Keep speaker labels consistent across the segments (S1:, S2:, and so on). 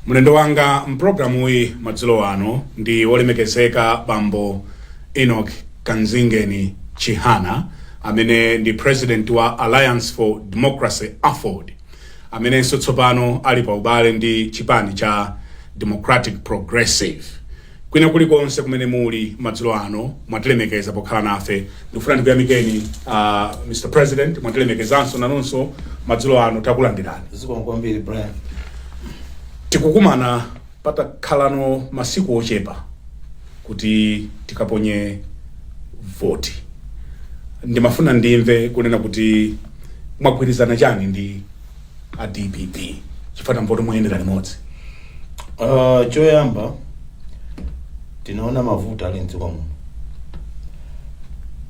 S1: mlendo wanga mpulogalamuyi madzulo ano ndi wolemekezeka bambo enoch kanzingeni chihana amene ndi president wa alliance for democracy aford amenenso tsopano ali pa ubale ndi chipani cha democratic progressive Kwina kuli konse kumene muli madzulo ano mwatilemekeza pokhala nafe ndikufuna ndikuyamikeni uh, Mr. President mwatilemekezanso inunso madzulo ano takulandirani zikomo kwambiri Brian tikukumana patakhalano masiku ochepa kuti tikaponye voti ndimafuna ndimve kunena kuti mwagwirizana chani ndi a dpp chifukwa kumpoto muyendera limodzi Uh, choyamba tinaona mavuto ali mdziko muno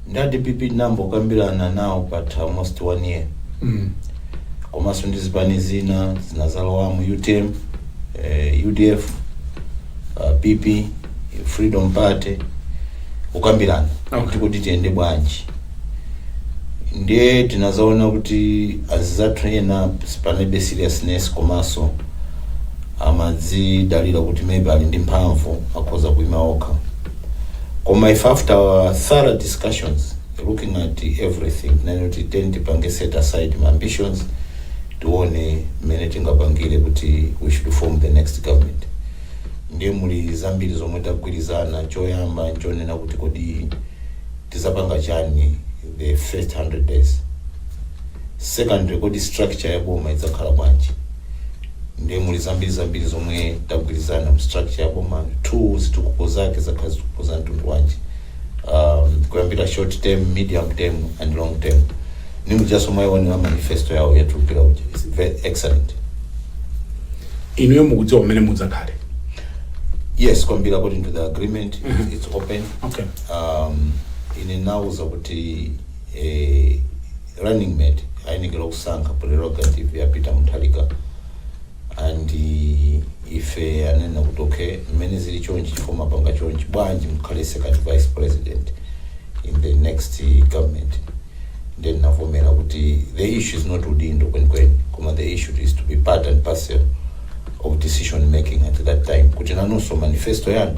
S1: ndi a dpp tinambokambirana nawo patha almost one year mm. komanso ndi zipani zina zinazalowamo utm eh, udf uh, pp freedom party kukambirana Okay. kuti tiyende bwanji ndiye tinazaona kuti anzathu ena panalibe seriousness komanso amazidalira kuti maybe ali ndi mphamvu akhoza kuima okha koma if after our thorough discussions looking at everything tinanena kuti tiyeni tipange set aside ma ambitions tione mmene tingapangire kuti we should form the next government ndiye muli zambiri zomwe tagwirizana choyamba nchonena kuti kodi tizapanga chani the first 100 days secondly kodi structure ya boma idzakhala bwanji ndiye muli zambiri zambiri zomwe tagwirizana mu structure ya boma two zitukuko zake zizakhala zitukuko za mtundu wanji um, kuyambira short term medium term and long term ndi mujanso mwaionera manifesto yawo yatulukira uja is very excellent inuyo mukudziwa pamene mudzakhale yes kwambiri according to the agreement it's open okay um, ine anandiuza kuti eh, running mate ayenekera kusankha prerogative ya peter mutharika and eh, ife anena kuti okay mmene zili chonchi chifukwa mapanga chonchi bwanji mukhale second vice president in the next eh, government then ndinavomera kuti the issue is not udindo kwenikweni koma the issue is to be part and parcel of decision making at that time kuti nanunso manifesto yanu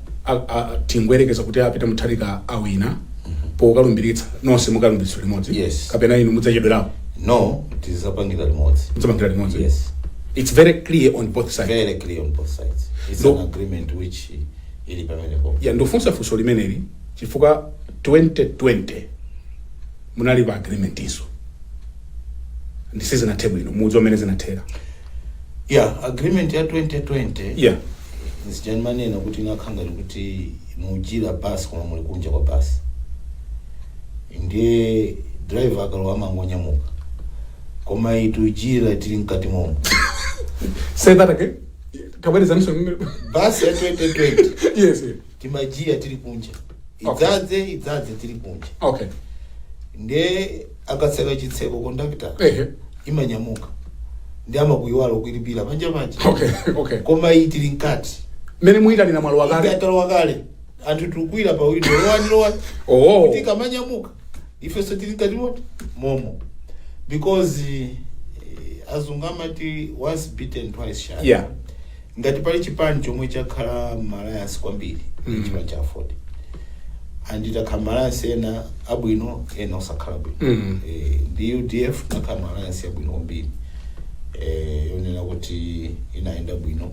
S1: a- a- tingoyerekeza kuti a peter mutharika awina pokalumbiritsa nonse mukalumbiritsa limodzi Yes. kapena inu mudzachedwerapo no tizapangira limodzi mudzapangira limodzi yes it's very clear on both sides very clear on both sides it's No. an agreement which ili pamenepo ya ndikufunsa funso limeneli chifukwa 2020 munali pa agreement izo ndiye sizinathe bwino mudziwa mmene zinathera yeah agreement ya 2020 Yeah. ija ndimanena kuti inakhanga kuti mujiya basi koma muli kunja kwa basi ndiye driver akalowa amangonyamuka koma itujiya tili mkati momo Say that again. Kabwerezeninso. basi ya 2020 Yes. yes. timajiya tili kunja idzadze idzadze tili kunja okay nde akatseka chitseko n'kumapita ehe imanyamuka ndiye amakuyiwala kuilipira panja panja okay okay koma iyi tili mkati mmene muyitanira mwalo wakale ikatalowa kale anthu tikukwira pa windo lowani lowani oh kuti kamanyamuka ifenso tili mkati moti momo because eh, azungu amati once beaten twice shy yeah Ngati pali chipani chomwe chakhala ma alliance kwambiri ndi chipani cha Aford. And takhala ma alliance ena abwino ena osakhala bwino. Mm. Eh, ndi UDF takhala m'Alliance yabwino kwambiri. Eh, yonena kuti inayenda bwino.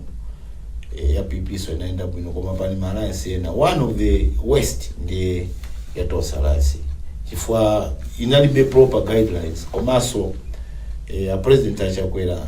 S1: Eh, ya PP nso inayenda bwino koma pali ma alliance ena. One of the worst ndi ya Tonse Alliance. Chifukwa inalibe proper guidelines komanso eh, a president a Chakwera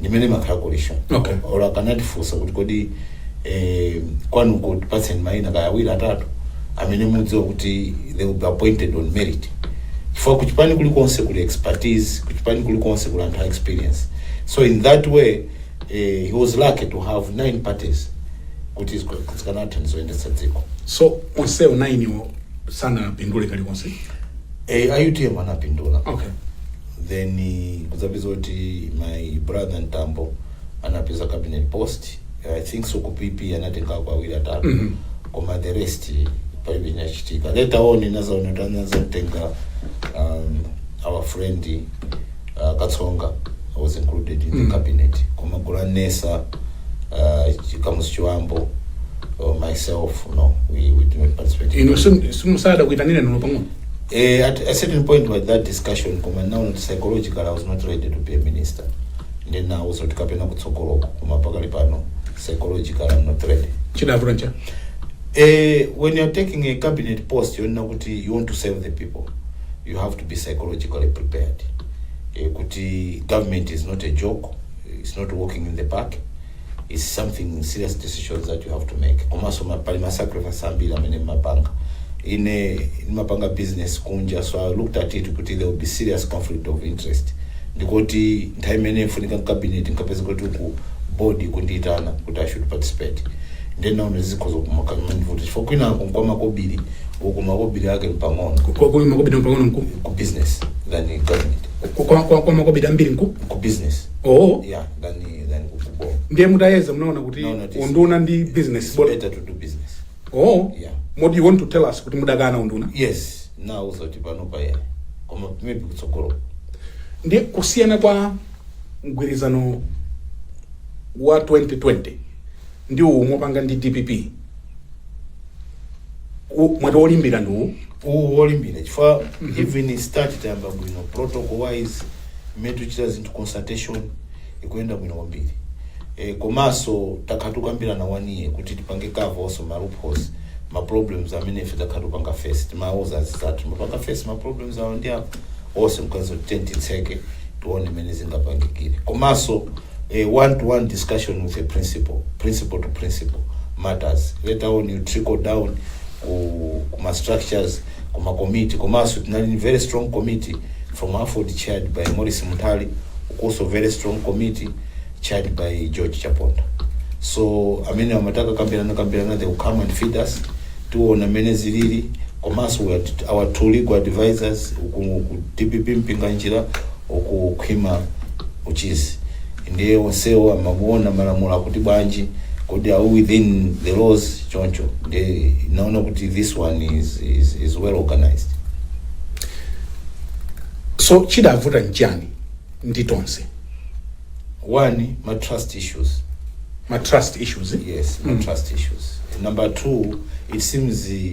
S1: ndi mmene mmakhala coalition Okay. or akanatifunsa kuti kodi eh, kwanuko tipatseni maina kaya awiri atatu amene mudziwa kuti they will be appointed on merit chifukwa kuchipani kulikonse kuli expertise kuchipani kulikonse kuli anthu a experience so in that way eh, he was lucky to have nine parties kuti zika- zikanathandiza kuyendetsa dziko so onsewo nine-wo sanapindule kalikonse eh, a utm anapindula okay then mukudzapeza kuti my brother Mtambo anapeza cabinet post i think so ku pp anatengako awiri atatu Mhm. koma the rest palibe chinachitika later on ndinazaona kuti anazatenga um, our friend uh, katsonga was included in the Mhm. cabinet koma George Nnesa uh, Kamuzu Chibambo uh, myself no we, we did not participate in inu the- simunada kuitanidwa olo pang'ono Eh, at a certain point with that discussion koma now not psychological I was not ready to be a minister ndi nawuza kuti kapena kutsogoloko koma pakali pano psychological I'm not ready chidavuta ncha Eh, when you're taking a cabinet post yonena kuti you want to serve the people you have to be psychologically prepared eh, kuti government is not a joke it's not walking in the park it's something serious decisions that you have to make komanso ma- pali masacrifice ambiri amene mmapanga ine ndimapanga business kunja so i looked at it kuti there will be serious conflict of interest ndikuti nthawi imene ndikufunika m'cabinet nkapeza kuti ku board akundiyitana kuti i should participate ndenaona zikhoza kumakandivuta chifukwa kwinako n'kwa makobiri uku makobiri ake mpang'ono Kwa- kwa makobidi pang'ono n'ku ku business than government kwa- kwa- kwa- kwa makobidi ambiri n'ku ku business oo yeah than than ku kuboma ndiye mutayeza munaona kuti No, no, it is- unduna ndi business it's better to do business oh Yeah. kodi you want to tell us kuti mudakana unduna yes ndinawauza kuti panopa ya koma maybe kutsogolo ndiye kusiyana kwa mgwirizano wa 2020 ndi uwu mopanga ndi dpp U- mwati wolimbira ndi uwu uwu wolimbira chifukwa even start tayamba bwino protocol wise mmene tikuchita zinthu consultation ikuyenda bwino kwambiri e, komanso takhala tikukambirana one year kuti tipange cover onse ma loopholes ma problems amene ife takhala tikupanga face timawuza anzathu mapanga face ma problems awo ndi apo onse tikanazitseka tione mmene zingapangikire komanso eh, one to one discussion with the principal principal to principal matters later on you trickle down ku, ku ma structures koma committee komanso tinali ndi very strong committee from aford chaired by morris munthali ukunso very strong committee chaired by george chaponda so amene amatha kakambiranakambirana they will come and feed us tiona mmene zilili komanso we had our two legal advisors uku ku dpp mpinganjira uku khwima uchizi ndiye onsewo amakaona malamulo akuti bwanji kodi are we within the laws choncho ndiye ndinaona kuti this one is, is, is well organized so chidavuta nchani ndi tonse alliance ma trust issues ma trust issues yes ma trust issues number two it seems eh,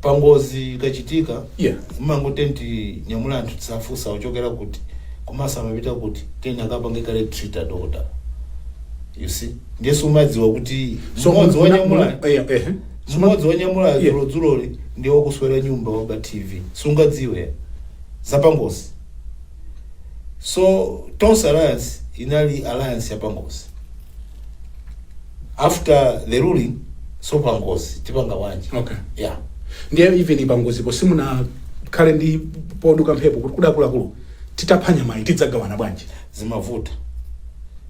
S1: pangozi ikachitika Yeah. mumangoti tinyamule anthu osafunsa achokera kuti komanso amapita kuti then akapange kale treat adokota you see ndiye sumadziwa kuti So, mmodzi muna- wanyamula muna- eh, eh. mmodzi wanyamula Yeah. dzulodzuloli ndiye wakuswera nyumba waba tv sungadziwe zapangozi so tonse alliance inali alliance yapangozi after the ruling so pangozi tipanga bwanji Okay. yeah ndiye even pangozipo simunakhale pansi poduka mphepo kuti kuti akuluakulu titapha nyamayi tidzagawana bwanji zimavuta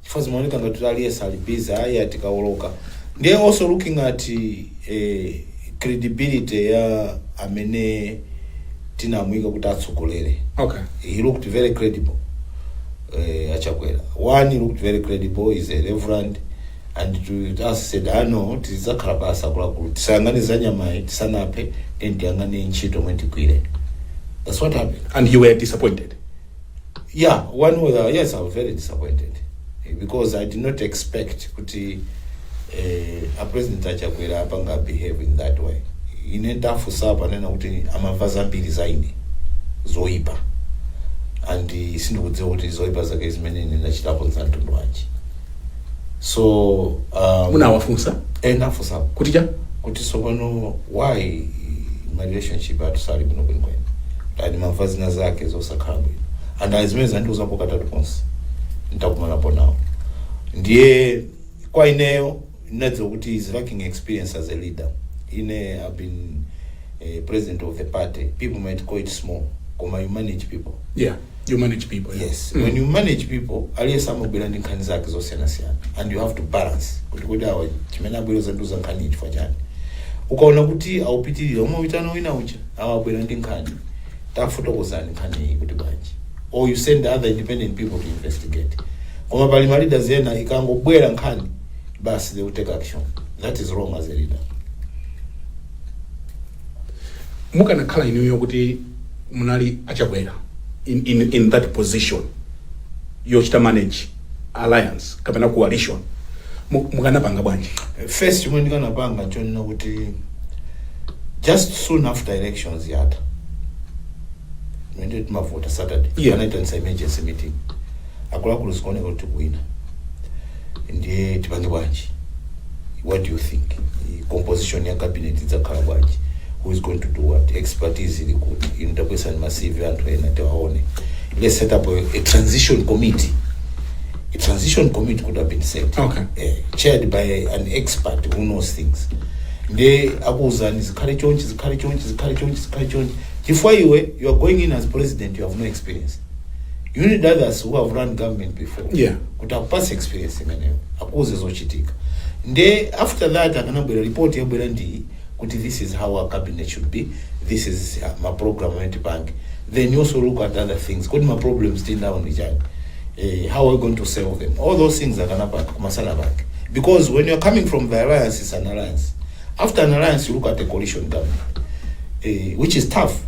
S1: chifukwa zimaoneka ngati kuti aliyense ali busy ayi a tikawoloka ndiye also looking at eh, credibility ya amene tinamuyika kuti atsogolere okay he looked very credible uh, achakwera one he looked very credible he's a reverend and to us said ah no tidzakhala pansi akuluakulu tisayang'ane za nyamayi tisanaphe then tiyang'ane ntchito yomwe tigwire that's what happened and you were disappointed yeah one was uh, yes i was very disappointed eh, because i did not expect kuti eh, a president achakwera apanga behave in that way ine ndafunsa ponena kuti amamva zambiri za ine zoipa and eh, sindikudziwa kuti zoipa zake zimene ine ndachitapo za mtundu wanji so um, munawafunsa ndinafunsa kuti ncha kuti sopano why ma relationship athu sali bwino kwenikweni ati ndimamva zina zake zosakhala bwino and izi zimene anandiuzapo katatu konse nditakumanapo nawo ndiye kwa ineyo ndinadziwa kuti he's lacking experience as a leader ine i've been eh, president of the party people might call it small koma you manage people yeah you manage people yeah. yes when you manage people aliyense amabwera ndi nkhani zake zosiyanasiyana and you have to balance kuti kodi awa chimene abwera kudzandiuza nkhani iyi chifukwa chani ukaona kuti akupitirira umawitana wina kuti awa abwera ndi nkhani tafotokozani nkhani iyi kuti bwanji or you send other independent people to investigate koma pali ma leaders ena ikangobwera nkhani basi they will take action that is wrong as a leader mukanakhala inuyo kuti munali achakwera in, in, in that position yochita manage alliance kapena coalition mu- mukanapanga bwanji first chomwe ndikanapanga chonena kuti just soon after elections atatha mmene timavota saturday Yeah. anaitanitsa emergency meeting akuluakulu zikuoneka kuti tikuwina ndiye tipange bwanji what do you think I- composition ya cabinet idzakhala bwanji who is going to do what expertise ili kuti inu tabweretsani ma cv a anthu ena tiwaone let's set up a, a transition committee a transition committee could have been set Okay. eh, chaired by an expert who knows things nde akuwuzani zikhale chonchi zikhale chonchi zikhale chonchi zikhale chonchi chifukwa iwe you are going in as president you have no experience you need others who have run government before Yeah. kuti akupase experience imeneyo akuuze zochitika nde after that akanabwera report yabwera ndi kuti this is how our cabinet should be this is uh, ma program amene tipange then you also look at other things kuti ma problems still now ndi chani eh, how are we going to solve them all those things akanapanga kumasana pake because when you're coming from the alliance is an alliance After an alliance, you look at the coalition government, eh, which is tough.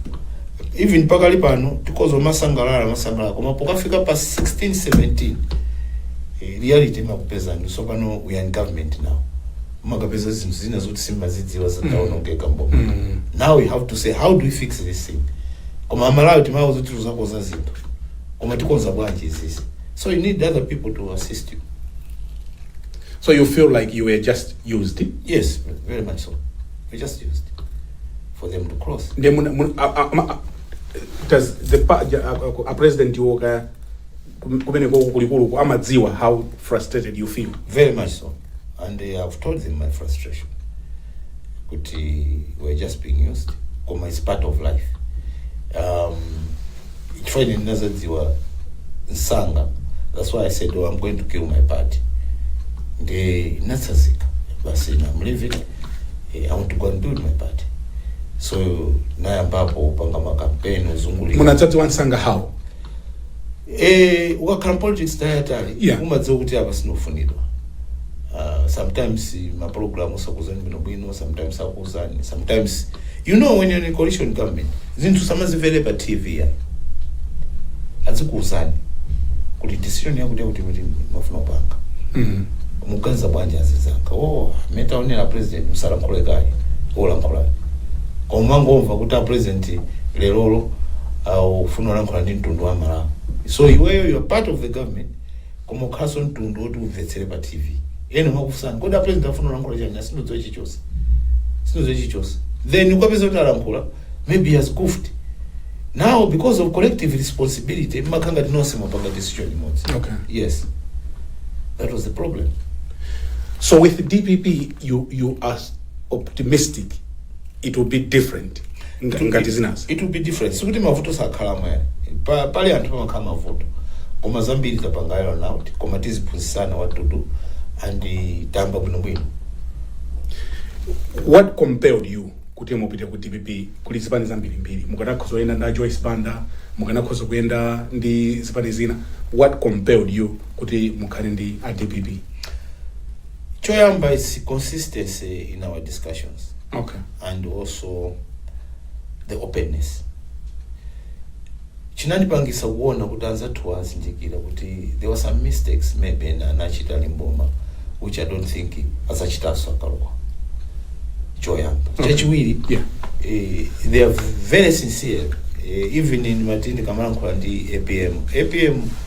S1: Even pakali pano, mukhoza kumasangalala, kumasangalala, koma pokafika pa 16, 17, eh, reality imakupezani kuti tsopano we are in government now. Mumakapeza zinthu zina zoti simumazidziwa zitaonongeka m'boma. Mm. Now we have to say, how do we fix this thing? Koma amalawi tinawauza zoti tidzakonza zinthu. Koma tikonza bwanji zimenezi. So you need other people to assist you. So you feel like you were just used yes very much so we just used for them to cross nde muna- muna- a- a- ma- a- does the pa- ja- a- a- a president iwo ka kum- kumene koko kulikuluku amadziwa how frustrated you feel very much so and uh, i've told them my frustration kuti we're just being used koma it's part of life um, chifukwa ine ndinadzadziwa msanga that's why i said oh, i'm going to build my party ndiye ndinatsazika basi na i'm leaving eh, i want to go and build my party so nayambapo upanga makampeni uzungulira munadzadziwa msanga how eh ukakhala m'politics nthawi yaitali Yeah. umadziwa kuti apa sindikufunidwa uh, sometimes ma program sakuuzani bwinobwino sometimes akuuzani sometimes you know when you're in a coalition government zinthu sumazimvera pa tv ya azikuuzani kuti decision yakuti yakuti kuti timafuna kupanga Mm. muganiza bwanji anzanga oh metaonera president musalankhule kale olankhulani koma kungomva kuti a president lerolo uh, akufuna kulankhula ndi mtundu wa Amalawi so iweyo you're part of the government koma ukhalanso mtundu oti umvetsere pa tv ena amakufunsani kodi a president afuna kulankhula chani "Ah, sindidziwa chilichonse sindidziwa chilichonse then ukapeza kuti alankhula maybe he has goofed now because of collective responsibility mumakhala ngati nonse mwapanga decision imodzi Okay. yes that was the problem So with DPP, you you are optimistic it will be different. Nga- ngati zinazi it will be different sikuti mavuto sakhalamo pa, pali anthu pamakhala mavuto koma zambiri tapanga unite koma tiziphunzitsana what to do and eh, tayamba bwinobwino what compelled you kuti mupite ku dpp kuli zipani zambirimbiri mukanakhoza kuyenda ndi a joyce banda mukanakhoza kuyenda ndi zipani zina what compelled you kuti mukhale ndi a dpp choyamba its consistency in our discussions okay and also the openness chinandipangisa kuona kuti anzathuwa azindikira kuti there were some mistakes maybe ena anachita ali m'boma which i don't think adzachitanso akalowa choyamba Okay. chachiwiri yeah eh, they are very sincere eh, even in mmati ndikamalankhula ndi apm apm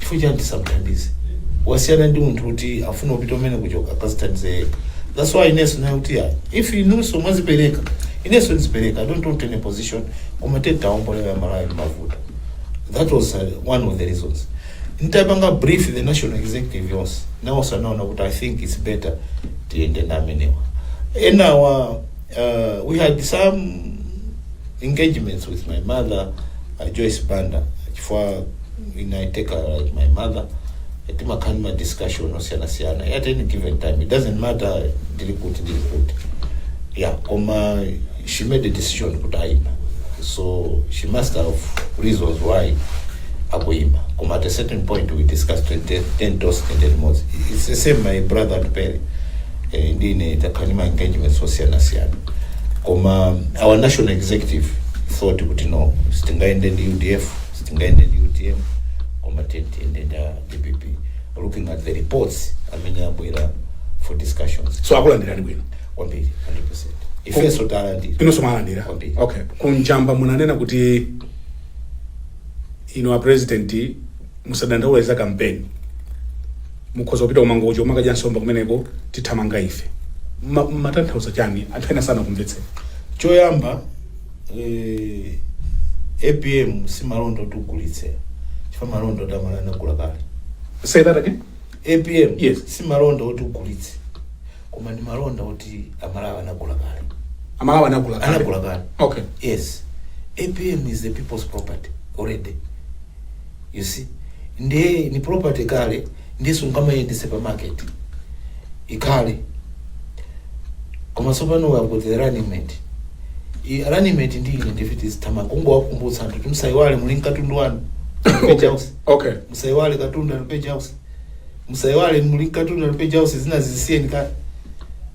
S1: chifukwa chani tisamthandize wasiyana ndi munthu kuti afuna kupita kumene kuchoka akazithandize yekha that's why inenso ndiye kuti ya if inunso mwazipereka inenso ndizipereka i don't want any position koma titawombola Amalawi m'mavuto that was uh, one of the reasons nditapanga brief the national executive yonse nawonso anaona kuti i think it's better tiyende ndi amenewa enawa uh, we had some engagements with my mother uh, Joyce Banda chifukwa ine I take her like my mother timakhala ndi ma discussion osiyanasiyana at any given time it doesn't matter ndili kuti ndili kuti yeah koma she made a decision kuti ayima so she must have reasons why akuyima koma at a certain point we discussed tiyeni tiyende tonse tiyende limodzi it's the same my brother atupele eh, ndine takhala ndi ma engagements osiyanasiyana koma our national executive thought kuti no sitingayende ndi udf sitingayende ndi utm koma tiyende ndi dpp looking at the reports amene abwera for discussions so akulandirani bwino kwambiri? 100% ifenso talandira inunso mwalandira Kwambiri. okay ku Njamba munanena kuti inu a president musadandaula za kampeni Mukhoza kupita ku Mangochi kumakadya nsomba kumeneko tithamanga ndi ife. Mma mumatanthauza chani anthu ena sanakumvetseteni. Choyamba eeh apm si malonda oti ugulitse chifukwa malonda oti amalawi anagula kale. Say that again? Apm Yes. si malonda oti ugulitse koma ndi malonda oti amalawi anagula kale. Amalawi anagula kale. Anagula kale. Okay. Yes. Apm is the people's property already. you see ndiye ni property kale ndiye sungamayiyendetse pa market ikhale koma tsopano we have got the running mate I- running mate ndi ine ndi ife tizithamanga kungowakumbutsa anthu kuti musayiwale muli nkatundu wanu page house okay musayiwale katundu ali page house musayiwale muli nkatundu ali page house zina zisiyeni kale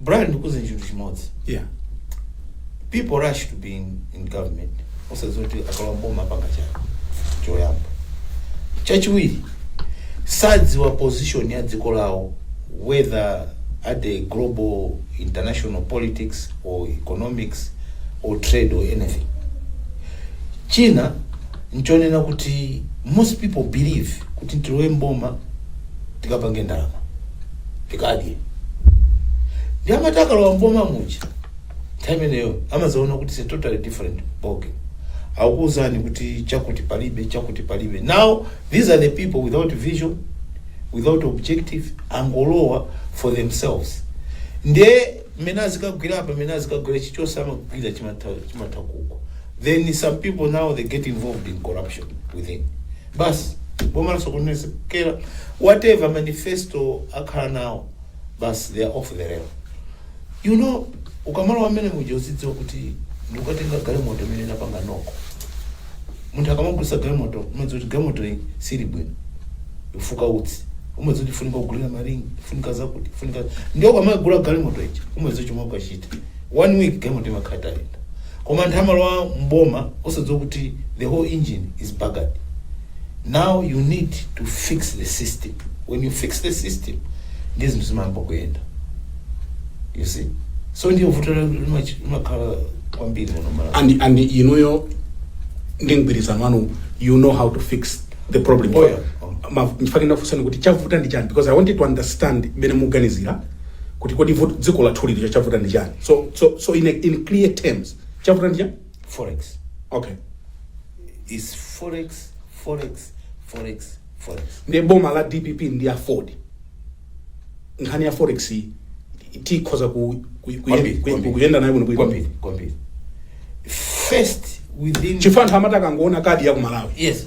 S1: Brian ndikuuze chinthu chimodzi yeah people rush to be in, in government osadziwa kuti akalowa mboma apanga chani choyamba chachiwiri sadziwa position ya dziko lawo whether at the global international politics or economics or trade or anything china nchonena kuti most people believe kuti tilowe mboma tikapange ndalama tikadye ndiye amati akalowa mboma muja nthawi imeneyo amazaona kuti it's a totally different ball game akuuzani kuti chakuti palibe chakuti palibe now these are the people without vision without objective angolowa for themselves ndiye mmene azikagwira apa mmene azikagwira chichonse amagwira chimatha chimatha kukwa then some people now they get involved in corruption within Basi boma lasokonezekera whatever manifesto akhala nayo basi they are off the rail you know ukamalowa mmene muja uzidziwa kuti ndikukatenga galimoto imene inapanga knock munthu akamagulitsa galimoto umadziwa kuti galimoto iyi sili bwino ifuka utsi umadziwa kuti ifunika kugulira ma ring ifunika zakuti ifunika ndiye ukamagula galimoto ija umadziwa chomwe ukachita one week galimoto imakhala itayenda Koma anthu amalowa m'boma osadziwa kuti the whole engine is buggered. Now you need to fix the system. When you fix the system, ndiye zinthu zimayamba kuyenda. You see? So ndiye vuto la- limachi- limakhala kwambiri m'muno Malawi. and and inuyo ndi mgwirizano wanu you know how to fix the problem Oh, yeah. Ma- nchifukwa chake ndakufunsani kuti chavuta ndi chani because i wanted to understand mmene muganizira kuti kodi vuto dziko lathu lili chavuta ndi chani so so so in, a, in clear terms chavuta ndi chani forex okay is forex forex forex forex ndi boma la dpp ndi AFORD nkhani ya forex iyi tikhoza ku, ku, ku, Kwambiri, ku, kwambiri. kuyenda nayo bwino kwambiri bwino kwambiri first within chifukwa anthu amati akangoona kadi ya ku malawi yes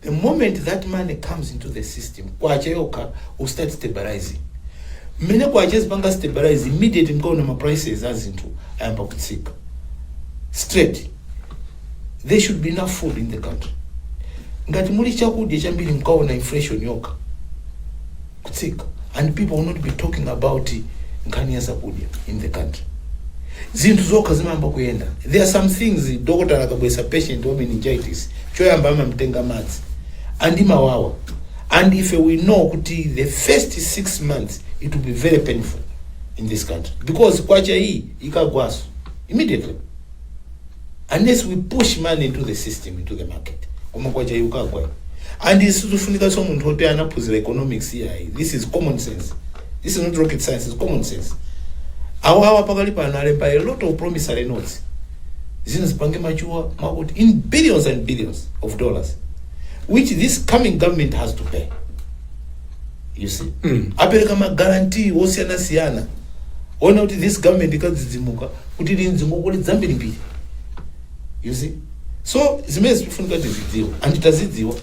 S1: the moment that money comes into the system kwacha yokha will start stabilizing mmene kwacha izipanga stabilize immediate mkaona ma prices a zinthu ayamba kutsika straight there should be enough food in the country ngati muli chakudya chambiri mkaona inflation yokha kutsika and people will not be talking about nkhani ya zakudya in the country zinthu zokha zimayamba kuyenda there are some things dokotala akabweretsa patient wa meningitis choyamba amamtenga madzi and imawawa and ife we know kuti the first six months it will be very painful in this country because kwacha iyi ikagwanso immediately unless we push money into the system into the market koma kwacha yukagwa and isizofunika so munthu oti anaphunzira economics yayi this is common sense this is not rocket science is common sense awawa pakali pano alemba a lot of promissory notes zino zipange machuwa makuti in billions and billions of dollars which this coming government has to pay you see mm. apereka magarantii osiyanasiyana ona kuti this government ikadzidzimuka kuti ili ndi ngongole zambirimbiri you see so zimene zikufunika tizidziwa and tazidziwa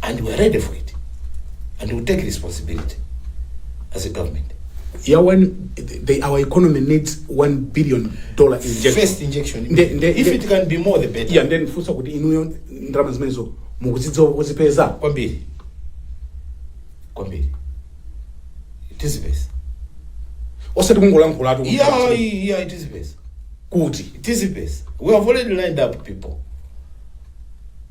S1: and we are ready for it and we take responsibility as a government ya one they, our economy needs one billion dollar injection first injection Nde- nde- if nde- it can be more the better yeah ndifunse kuti inuyo ndalama zimenezo mukuzidziwa kuzipeza kwambiri kwambiri tizipeza osati kungolankhulatu kuti yeah yeah tizipeza kuti tizipeza we have already lined up people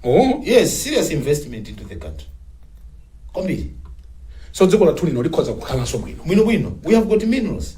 S1: oh yes serious investment into the country kwambiri so dziko lathu lino likhoza kukhalanso bwino bwino bwino we have got minerals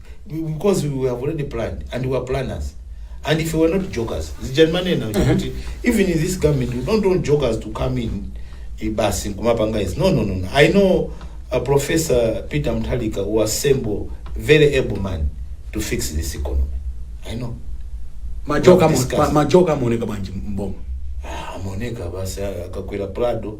S1: because we have already planned and we are planners and if we were not jokers zija ndimanena uja kuti even in this government we don't want jokers to come in eh, basi kumapanga izi no no no no. i know uh, professor peter mtalika who assemble very able man to fix this economy i know majoka Discuss. majoka amaoneka bwanji mboma Ah, amaoneka basi akakwera prado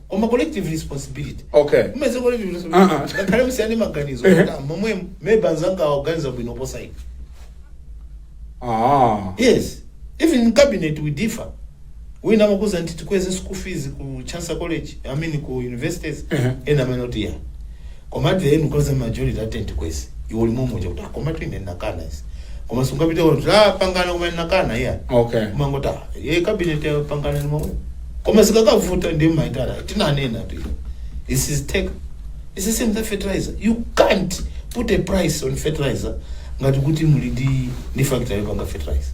S1: koma collective responsibility Okay. mmene collective Ah, ah. responsibility ngakhale musiyane maganizo Ehe. kuti momwe maybe anzanga aganiza bwino kuposa ine Ah. yes even in cabinet we differ wina amakuuza kuti tikweze school fees ku chancellor college i mean ku universities Ehe. ena amanena kuti iyayi Komatu ee mukhoza majority ati tikweze iwe uli momwe uja kuti ah, komatu ine ndinakana izi koma sungapite kuti tapangana koma ndinakana iyayi Okay. umangoti ah ye cabinet yapangana ndi momwe koma sikakavuta ndiye mayi tinanenatu iwe. this is take it's the same za fertilizer you can't put a price on fertilizer ngati kuti muli ndi ndi factory yopanga fertilizer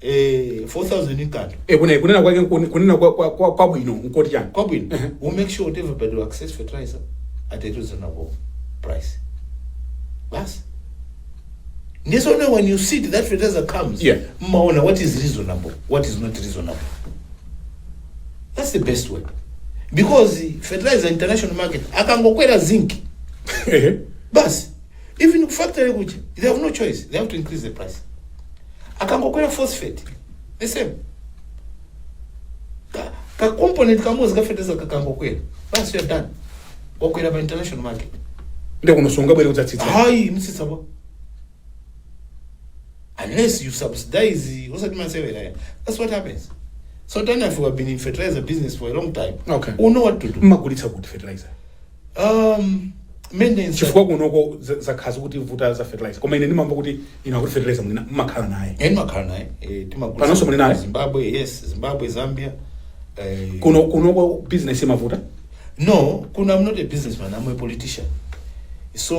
S1: eh 4000 nkanthu e kuna kunena kwake nkuni- kunena kwa- kwa- kwa- kwabwino nkoti chani kwabwino Ehe. we make sure kuti everybody will access fertilizer at a reasonable price basi ndiye so now when you see that fertilizer comes Yeah. mmaona what is reasonable what is not reasonable that's the best way because fertilizer international market akangokwera zinc Ehe. basi Even ku factory kuja they have no choice, they have to increase the price. Akangokwera phosphate the same ka, ka component kamodzi ka fertilizer kakangokwera basi you are done wakwera pa international market nde kuno sungabwere kudzatsitsa hayi mtsitsa pa unless you subsidize osati masewera ya that's what happens so tani if you have been in fertilizer business for a long time Okay. you know what to do mmagulitsa kuti fertilizer Um, maintenance. chifukwa kunoko zakhala zikutivuta za fertilizer koma ine ndimamva kuti inu akuti fertilizer muli na- mumakhala naye Eh, ndimakhala naye eh, timagula- Panonso muli naye? zimbabwe yes zimbabwe zambia eh, kuno kunoko business imavuta no kuno i'm not a businessman i'm a politician so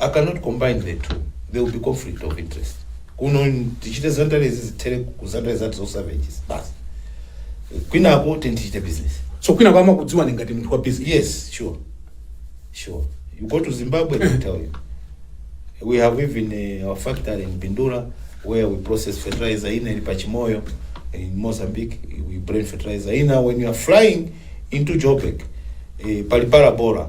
S1: i cannot combine the two there will be conflict of interest kuno tichite zandarezi zithere ku zandare zathu zosavages basi kwinako teni tichite business so kwina kwa amakudziwani ngati munthu wa business yes sure sure you go to zimbabwe they tell you we have even uh, our factory in bindura where we process fertilizer ina ili pachimoyo in mozambique we bring fertilizer ina when you are flying into joburg eh, pali parabora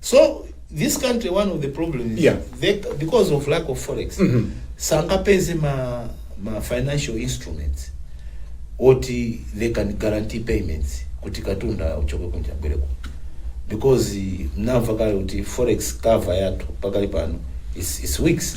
S1: so this country one of the problem is Yeah. they, because of lack of forex sangapeze ma, ma financial instruments oti they can guarantee payments kuti katunda uchoke kunja ubwere kuno because eh, mnamva kale kuti forex cover yathu pakali pano is, is weeks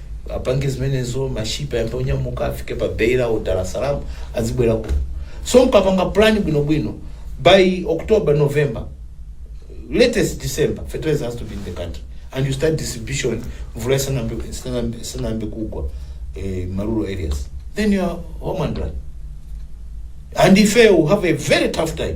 S1: apange zimenezo mashipi ayambe onyamuka afike pa beira o dar es salaam azibwera kuno so mkapanga plan bwinobwino by october november latest december fertilizer has to be in the country and you start distribution mvula isanambe isanambe- isanambe kugwa eh, marural areas then you are home and dry and ife will have a very tough time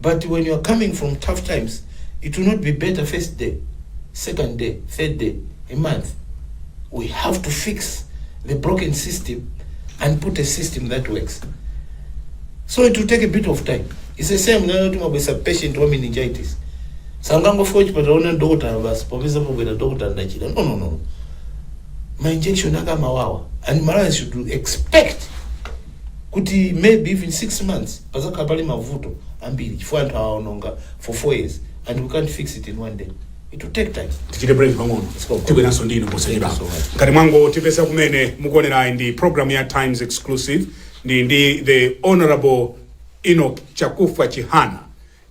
S1: but when you are coming from tough times it will not be better first day second day third day a month we have to fix the broken system and put a system that works so it will take a bit of time it's the same nanoti mabwesa patient wa meningitis sangangofika chipatala ona dokotala basi popeza pobwera dokotala ndachita no no no ma injection ake amawawa and malawi should expect kuti maybe even 6 months pazakhala pali mavuto ambiri chifukwa anthu awaononga for 4 years and we can't fix it in one day it will take time tichite break pang'ono go. tibweranso ndinu posachedwa Thank you so much. ngati mwangotipeza kumene mukuonerayi ndi program ya times exclusive ndi ndi the honorable Enoch Chakufwa Chihana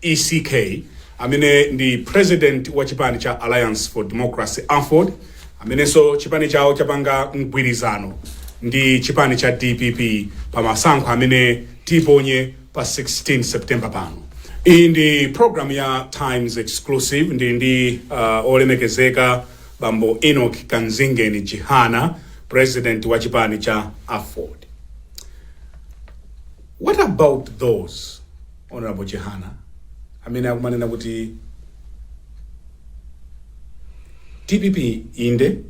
S1: ECK, amene ndi President wa chipani cha Alliance for Democracy, aford, amenenso chipani chawo chapanga mgwirizano ndi chipani cha dpp pa masankho amene tiponye pa 16 September pano. Iyi ndi program ya Times Exclusive ndi ndi uh, olemekezeka bambo Enoch Kamzingeni Chihana, President wa chipani cha aford. What about those Hon Chihana amene akumanena kuti dpp inde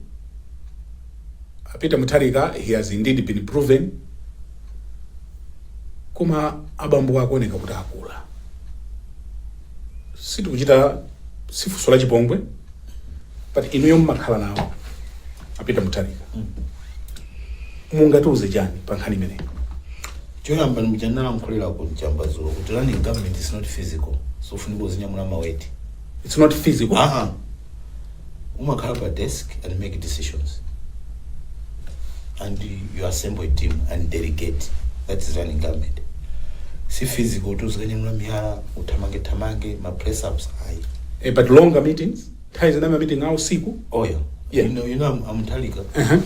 S1: a Peter Mutharika he has indeed been proven koma abambowa akuoneka kuti akula sitikuchita si funso la chipongwe but inuyo mmakhala nawo a Peter Mutharika mungatiuze chani pa nkhani imeneyi Choyamba ndi mmene ndinalankhulira ku Njamba dzulo kuti running government is not physical. Sufunika uzinyamula ma weight. It's not physical. Ah ah. Umakhala pa desk and make decisions. And you assemble a team and delegate. That is running government. Si physical tu uzikanyamula miyala, uthamange thamange, ma press ups ayi. Eh, but longer meetings. Nthawi zina ma meeting awo usiku. Oh yeah. Yeah. You know, you know I'm, I'm Mutharika. Uh -huh.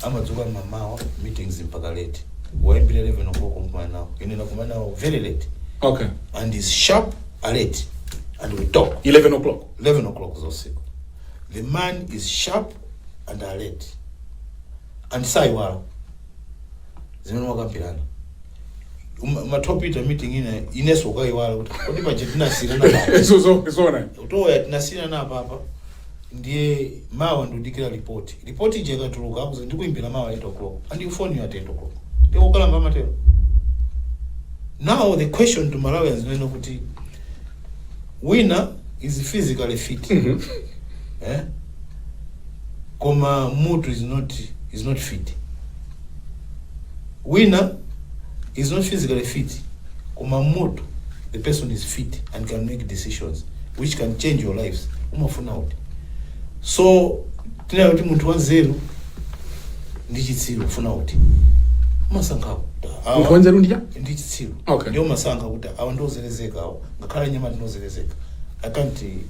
S1: amadzuka mamawa meetings mpaka late waimbira 11 o'clock kumkumana nawo ine nakumana nawo very late Okay. and is sharp alert and we talk 11 o'clock. 11 o'clock zosiku the man is sharp and alert and saiwala zimene mwakambirana Uma- matopita meeting ina ineso ukaiwala kuti kodi paja tinasiyirana pati Izo zo- zona utoya tinasiyirana pati ndiye mawa ndikudikira ripoti ripoti ija ikatuluka akuza ndikuimbira mawa 8 o'clock andikufoni at 8 o'clock ndiye ukalamba amatero now the question to malawians kunena kuti wina is physically fit Mhm. eh? koma mmutu is not, is not fit wina is not physically fit koma mmutu the person is fit and can make decisions which can change your lives umafuna uti so tinene kuti munthu wanzeru ndi chitsiru ufuna uti umasankha kuti awa- Munthu wanzeru ndi cha? ndi chitsiru Okay. ndiye umasankha kuti awa ndiozerezeka awa ngakhale nyama ndinozerezeka i can't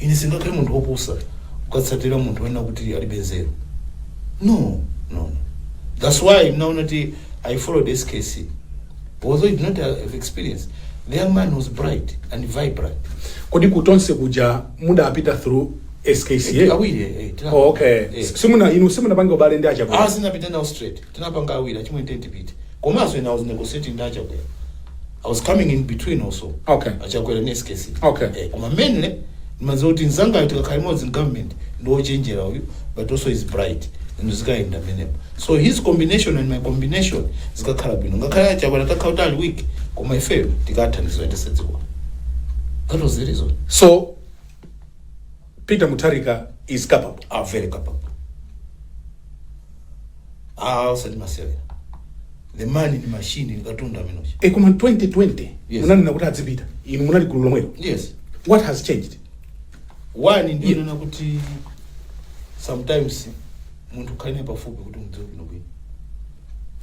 S1: ine sindingakhale munthu wopusa kukatsatira munthu wonena kuti alibe nzeru no no that's why mnaona kuti i followed skc although he did not have experience the young man was bright and vibrant kodi kutonse kuja mudapita through skca awiri eh, tina- oh, okay eh. simuna- inu simunapanga ubale ndi achakwera ah sindinapite nawo straight tinapanga awiri achimwe tentipite Komanso ine I was negotiating ndi achakwera I was coming in between also okay achakwera ndi skc okay eh, koma mainly ndimadziwa kuti mzangayo tikakhala limodzi mgovernment ndi wochenjera uyu but also is bright and zikayenda pamenepo so his combination and my combination zikakhala bwino ngakhale achakwera atakhala kuti ali weak koma ifeyo tikathandizira tisadziwa that was the reason so Peter Mutharika is capable. Ah very capable. Ah, usati masewera. The man ndi machine ndi katundu Minoshi. E koma 2020 Yes. munanena kuti adzipita. Inu munali gulu lomwero. Yes. What has changed? One Ye- ndiye kunena kuti sometimes munthu ukhale naye pafupi kuti umudziwe bwino bwino.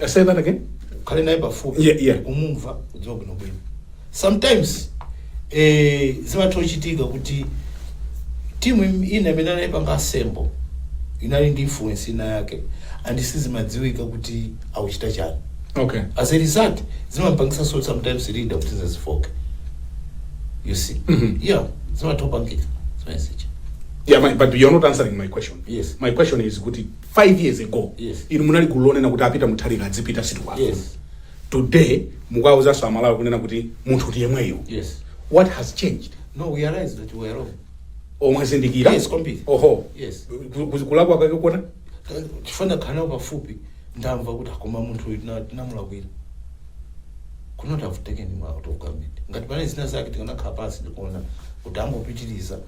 S1: Uh, say that again. ukhale naye pafupi Yeah, yeah. umumve umudziwe bwinobwino sometimes eh, zimatha kuchitika kuti timu im- ina imene anayipanga assemble inali ndi influence ina yake and sizimadziwika kuti akuchita chani Okay. as a result zimampangitsa so sometimes leader kuti azifooka you see Mhm. yeah zimatha kupangika zimayesecha Yeah, my, but you're not answering my question. Yes. My question is kuti 5 years ago yes. inu munali gulu lonena kuti a Peter Mutharika adzipita sitikuwafuna yes. today mukuwauzanso amalawi kunena kuti munthu ndi yemweyo yes. what has changed no we realize that we were wrong oh mwazindikira yes, kwambiri oho yes. kulakwa kwake kuona chifukwa nakhala pafupi ndamva kuti ah koma munthu uyu tina- tinamulakwira kunena kuti avuteke ndi mwa out of government ngati panali zina zake tikanakhala pansi ndikuona kuti angopitiriza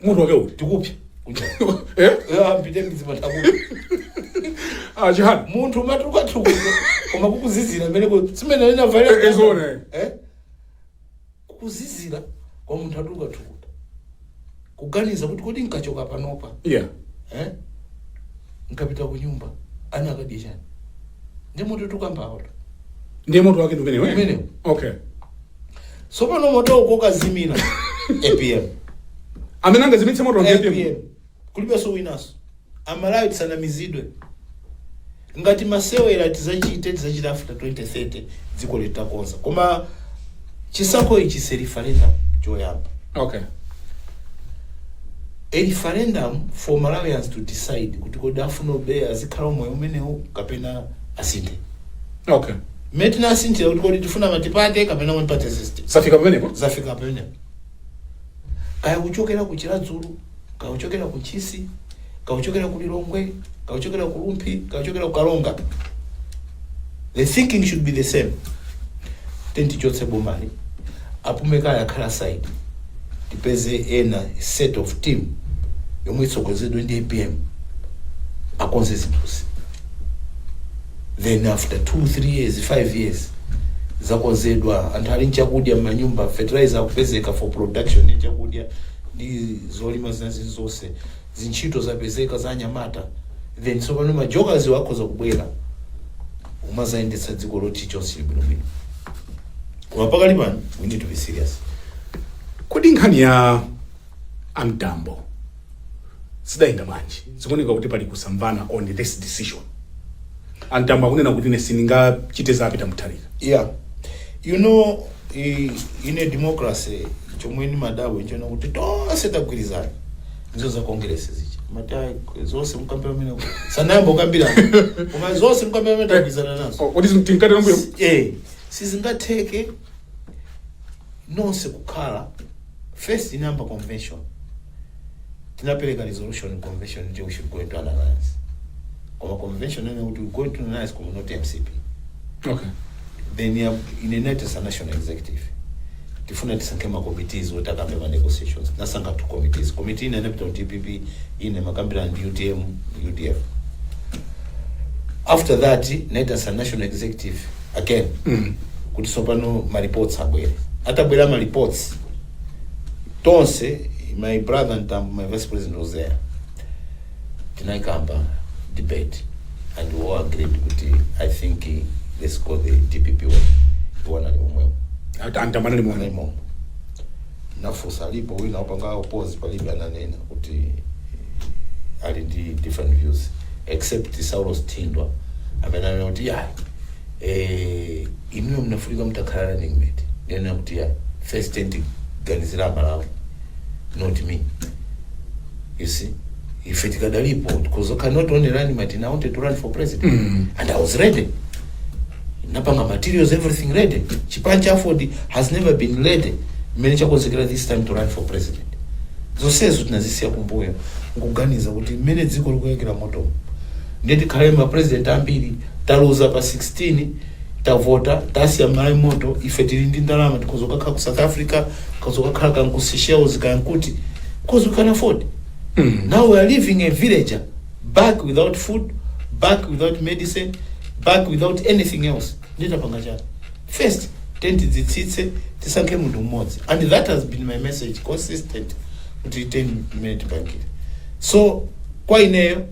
S1: mutu wake ukuti ukupsa Eh? ampite mizimatakuti Ah, chihani munthu umatukatukuta koma kukuzizira meneko simene Eh, eh, zone. limaba kukuzizira kwa munthu atukatukuta kuganiza kuti kodi nkachoka panopa yeah eh? nkapita ku nyumba ana akadya chani ndi moto tikukambawuto ndiye mutu wake ndi umenewo eh? Umenewo. okay tsopano moto ukukazimira apm amene angazimitse moto ndi apm apm kulibenso winanso aMalawi tisanamizidwe ngati masewera tizachite tizachita after 2030 dziko litakonza koma chisankho ichi ndi referendum choyamba okay a referendum for malawians to decide kuti kodi afuna kuba azikhala umoyo umenewu kapena asinthe okay mmene tinasinthira kuti kodi tifuna multiparty kapena one party system zafika pamenepo zafika pamenepo kaya kuchokera ku chiradzulu kaya kuchokera ku chisi kaya kuchokera ku lilongwe kaya kuchokera ku rumphi kaya kuchokera ku karonga the thinking should be the same kuti tichotse bomali apume kaye akhale side tipeze ena set of team yomwe itsogoleredwe ndi apm akonze zinthuzi then after 2 3 years 5 years zakonzedwa anthu ali ndi chakudya m'manyumba fertilizer akupezeka for production ya chakudya ndi zolima zina zili zonse zintchito zapezeka za anyamata then tsopano majokaziwa akhoza kubwera umazayendetsa dziko loti chonse chili bwinobwino koma pakali pano we need to be serious kodi nkhani ya a mtambo zidayenda bwanji zikuoneka kuti pali kusamvana on this decision a mtambo akunena kuti ine sindingachite za peter mutharika yeah you know i- in a democracy chomwe nimadana nchonena kuti tonse tagwirizana ndizo za congress zija mumati ayi, zonse mukambira mene sanayamba ukambirana koma zonse mukambira mene tagwirizana nazo kuti tili pambuyo eh sizingatheke nonse kukhala first inayamba convention tinapereka resolution ku convention kuti we should go into an alliance koma convention inanena kuti we go into an alliance koma not mcp okay then ya in tinaitanitsa national executive tifuna tisankhe ma committees oti akambe ma negotiations tinasankha two committees committee ina inapita ku dpp ina imakambirana ndi utm udf after that tinaitanitsa national executive again mm. kuti tsopano ma reports abwere atabwera ma reports tonse my brother Mtambo, my vice president was there tinayikamba debate and we all agreed kuti i think eh, let's go the dpp way iwo anali momwemo a Mtambo anali momwemo nafunsa alipo wina wapanga oppose palibe ananena kuti eh, ali ndi different views except saulos Thindwa amene anena kuti ya eh, inuyo munafunika mutakhala running mate ndinena kuti ya first thing tiganizira amalawi not me you see ife tikadalipo because I cannot only running mate I wanted to run for president mm. and I was ready napanga materials everything ready chipani cha aford has never been ready mmene chakonzekerera this time to run for president zonsezo tinazisiya kumbuyo nkuganiza kuti mmene dziko likuyakira moto ndiye tikhale ma president ambiri taluza pa 16 tavota tasiya mmalawi pamoto ife tili ndi ndalama tikhoza kukakhala ku south africa tikhoza kukakhala kan ku seychelles kan kuti because we can afford now we are leaving a villager back without food back without medicine back without anything else nditapanga chani first tiyeni tidzitsitse tisankhe munthu mmodzi and that has been my message consistent kuti 10 minute bankile so kwa ineyo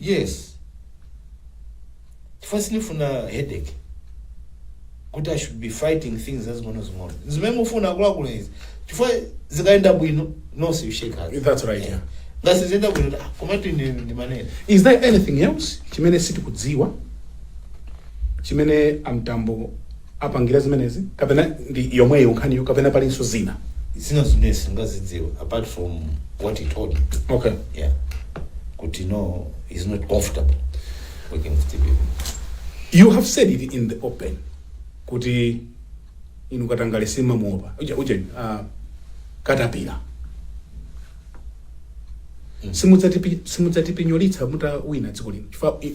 S1: Yes chifukwa sindifuna headache kuti i should be fighting things zazing'onozing'ono zimene mufuna akuluakulu izi chifukwa zikayenda bwino nonse you shake hands That's right, yeah. ngati siziyenda bwino ah, komatu ine ndimanena is there anything else chimene sitikudziwa chimene a Mtambo apangira zimenezi kapena ndi yomweyo nkhaniyo kapena palinso zina zina zimene sitingazidziwe apart from what he told me okay yeah kuti no he's not comfortable working with the people you have said it in the open kuti inu katangale simumamuopa uja uja uh, katapira simudzatipi- simudzatipinyolitsa mutawina dziko lino chifukwa i-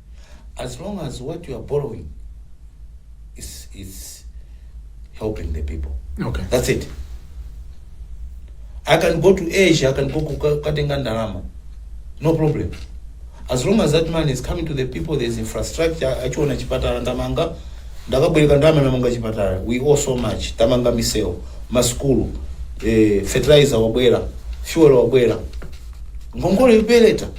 S1: as long as what you are borrowing is, is helping the people Okay. that's it i can go to asia i can go kuka- kukatenga ndalama no problem as long as that money is coming to the people there is infrastructure akuchiona chipatala ndamanga ndakabwereka ndalama ndamanga chipatala we owe so much tamanga misewu masukulu eh, fertilizer wabwera fuel wabwera ngongole ipereka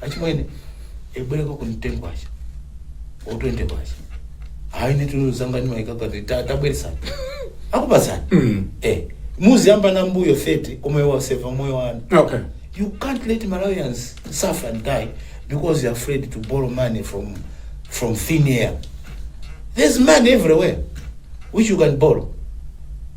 S1: achimwene ndibwerekeko ten kwacha or 20 kwacha hayi nitino zangani maikagati tabweresani akupasani Mm. eh muzibweza pambuyo 30 koma iwe waseva moyo wanu okay you can't let malawians suffer and die because you're afraid to borrow money from from thin air there's money everywhere which you can borrow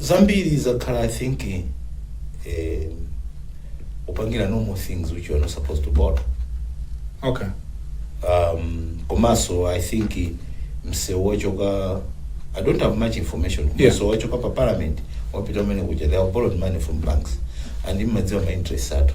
S1: zambiri zakhala i think eh, kupangira normal things which you are not supposed to borrow okay um, komanso i think msewu wachoka i don't have much information Yeah. msewu wachoka pa parliament wapita umene kuja they have borrowed money from banks and mumadziwa ma interest athu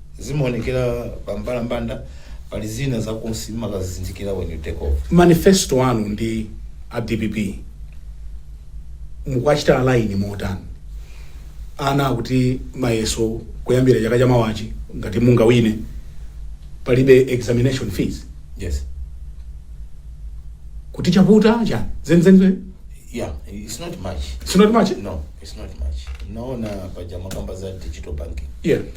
S1: Zimaonekera pa mbalambanda. Pali zina za kunsi mumakazizindikira when you take over. Manifesto anu ndi a dpp mukuachita align motani? Ana akuti mayeso kuyambira chaka chamawachi ngati mungawine palibe examination fees. Yes. Kuti chavuta chani? Zenizeni zeni? Yeah, it's not much. It's not much? No, it's not much. Ndaona paja mwakamba za digital banking. Yeah.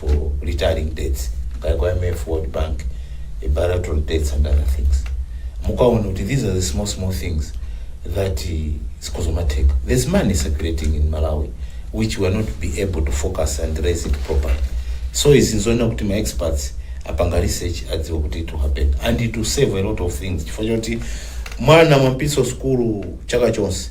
S1: for retiring debts like IMF, World Bank, eh, bilateral debts and other things. Mukaona kuti these are the small small things that eh, zikhoza kumatheka. There's money circulating in Malawi which we are not be able to focus and raise it properly. So izi nzoona kuti ma experts apanga research adziwa kuti it will happen and it will save a lot of things chifukwa choti mwana mwampitsa sukulu chaka chonse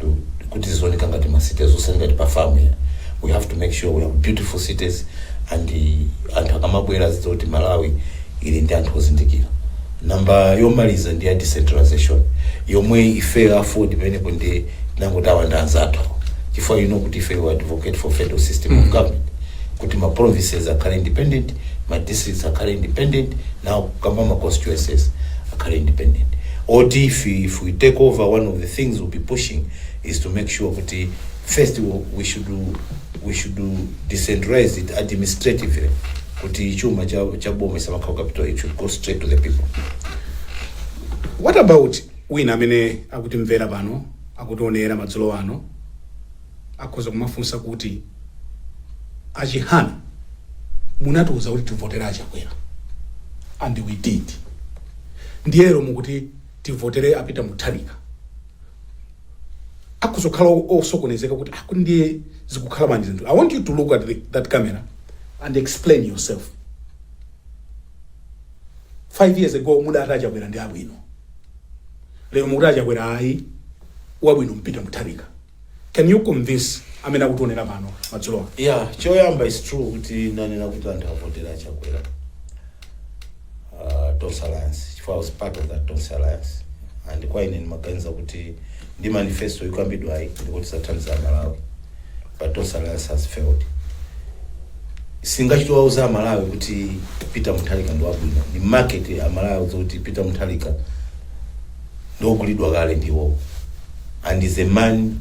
S1: to kuti zizioneka ngati ma cities osati ngati pa farm ya we have to make sure we have beautiful cities and uh, anthu akamabwera azidziwa kuti malawi ili ndi anthu ozindikira namba yomaliza ndi ya decentralization yomwe ifeyo a AFORD pamenepo nde tinangoti awa ndi anzathu chifukwa you know kuti ifeyo advocate for federal system of government kuti ma provinces akhale independent ma districts akhale independent nawo akamba ma constituencies akhale independent oti if, if we take over one of the things we'll be pushing is to make sure kuti first we- we should we should decentralize it administratively kuti chuma cha cha boma isamakhala capital it should go straight to the people what about wina amene akutimvera pano akutionera madzulo ano Akhoza kumafunsa kuti a Chihana munatiuza kuti tivotere a Chakwera and we did ndiye lero mukuti tivotere a Peter Mutharika. Akhoza kukhala o- osokonezeka kuti ah, kuti ndiye zikukhala bwanji zinthu. I want you to look at the, that camera and explain yourself. Five years ago mudati a Chakwera ndi abwino. Lero mukuti a Chakwera ayi wabwino ndi Peter Mutharika. Can you convince amene akutionera pano madzulo ano? ya choyamba it's true kuti ndinanena kuti anthu avotere chakwera uh, tonse alliance chifukwa I was part of that tonse alliance and kwa ine ndimaganiza kuti ndi manifesto ikukambidwayi ndikuti tizathandiza amalawi but tonse alliance has failed sikuti ngati tawauza amalawi kuti peter mutharika ndi wabwino ndi market amalawi atiuza kuti peter mutharika ndiogulidwa kale ndi iwowo and is a man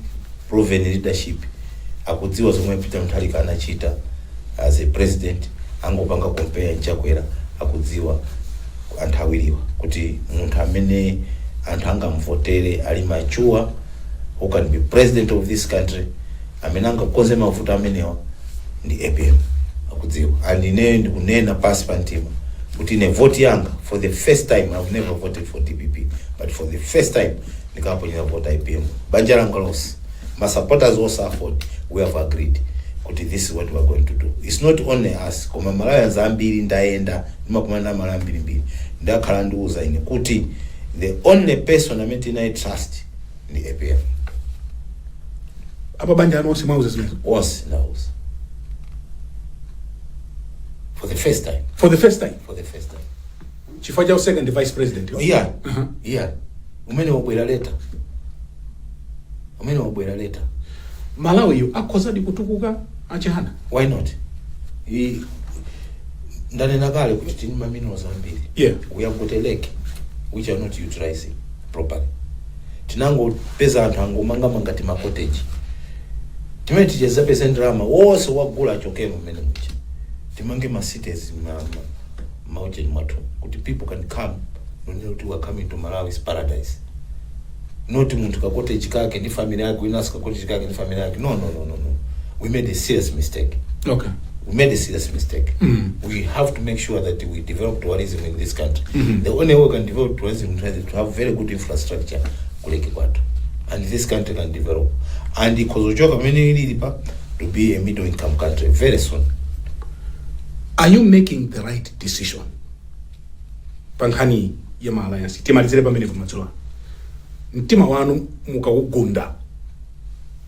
S1: proven leadership akudziwa zomwe Peter Mutharika anachita as a president angopanga compare nChakwera akudziwa anthu awiriwa kuti munthu amene anthu angamvotere ali mature who can be president of this country amene angakonze mavuto amenewa ndi apm akudziwa and ineyo ndikunena pansi pa mtima kuti ine voti yanga for the first time i've never voted for dpp but for the first time ndikaponyera voti apm banja langa lonse ma supporters onse aford we have agreed kuti this is what we are going to do it's not only us koma malawians ambiri ndayenda ndimakumana ndi amalawi ambirimbiri akhala akundiuza ine kuti the only person amene tinamu trust ndi apm apa banja lanu onse mwauza zimenezo onse ndauza for the first time for the first time for the first time chifukwa cha u second vice president iya Aha. iya umene wabwera leta umene wabwera leta malawiyu akhozadi kutukuka achihana why not I, ndanena kale kuti tili ndi maminerals ambiri yeah we have got a lake which we are not utilizing properly tinangopeza anthu angomangamanga timakoteji timene tizipeza ndalama onse tiwagule achokemo mmene muja timange masites maujeni mwathu kuti people can come kunena kuti we are coming to malawi is paradise not munthu kakoteji kake ndi family yake winanso kakoteji kake ndi family yake no no no no no we made a serious mistake okay we made a serious mistake. We have to make sure that we develop tourism in this country. The only way we can develop tourism in Tanzania is to have very good infrastructure kuleke kwathu. And this country can develop. And ikozochoka pamene ilili pa to be a middle income country very soon. are you making the right decision pa nkhani ya ma alliance timalizire pamene pamadzulo ano mtima wanu mukawugunda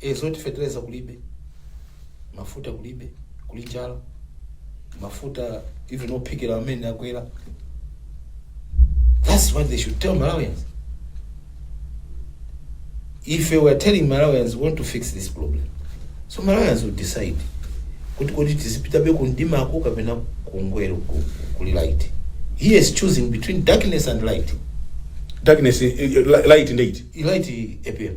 S1: e zoti feteleza kulibe mafuta kulibe kuli njala mafuta even ophikira amenewa akwera that's what they should tell malawians ife we are telling malawians we want to fix this problem so malawians will decide kuti kodi tizipitabe kundimako kapena kungwe- ku- kuli light he is choosing between darkness and light darkness eh, eh, light ndiye light apm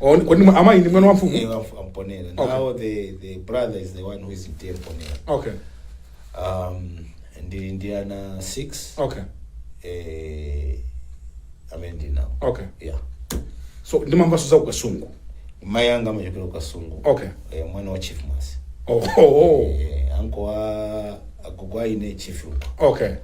S1: Oh, ni- kodi ni mwa- amayi ndi mwana wa mfumu Iye wa mfu- a Mponela Okay. now the the brother is the one who is chief Mponela okay um ndili ndi ana 6 okay eh amene ndinawo okay yeah so ndimamvanso za ku Kasungu mayi anga amachokera ku Kasungu okay eh, mwana wa chief Mwase oh, oh, oh. eh, ankolo agogo anali chief uko okay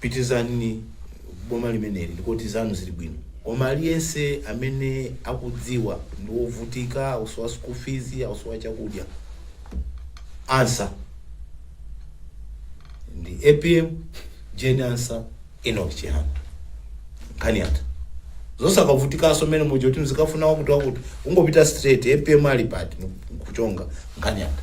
S1: Pitilizani boma limeneli ndiye kuti zanu zili bwino koma aliyense amene akudziwa ndi wovutika akusowa school fees akusowa chakudya answer ndi apm Jane ansah Enoch chihana nkhani yatha zosakavutikanso mmene muja kuti mzikafuna wakuti wakuti ungopita straight apm ali pati nkuchonga nkhani yatha.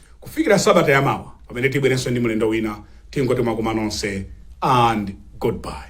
S1: Kufikira sabata ya mawa pamene tibwerenso ndi mlendo wina, tingoti mwakoma nonse and goodbye.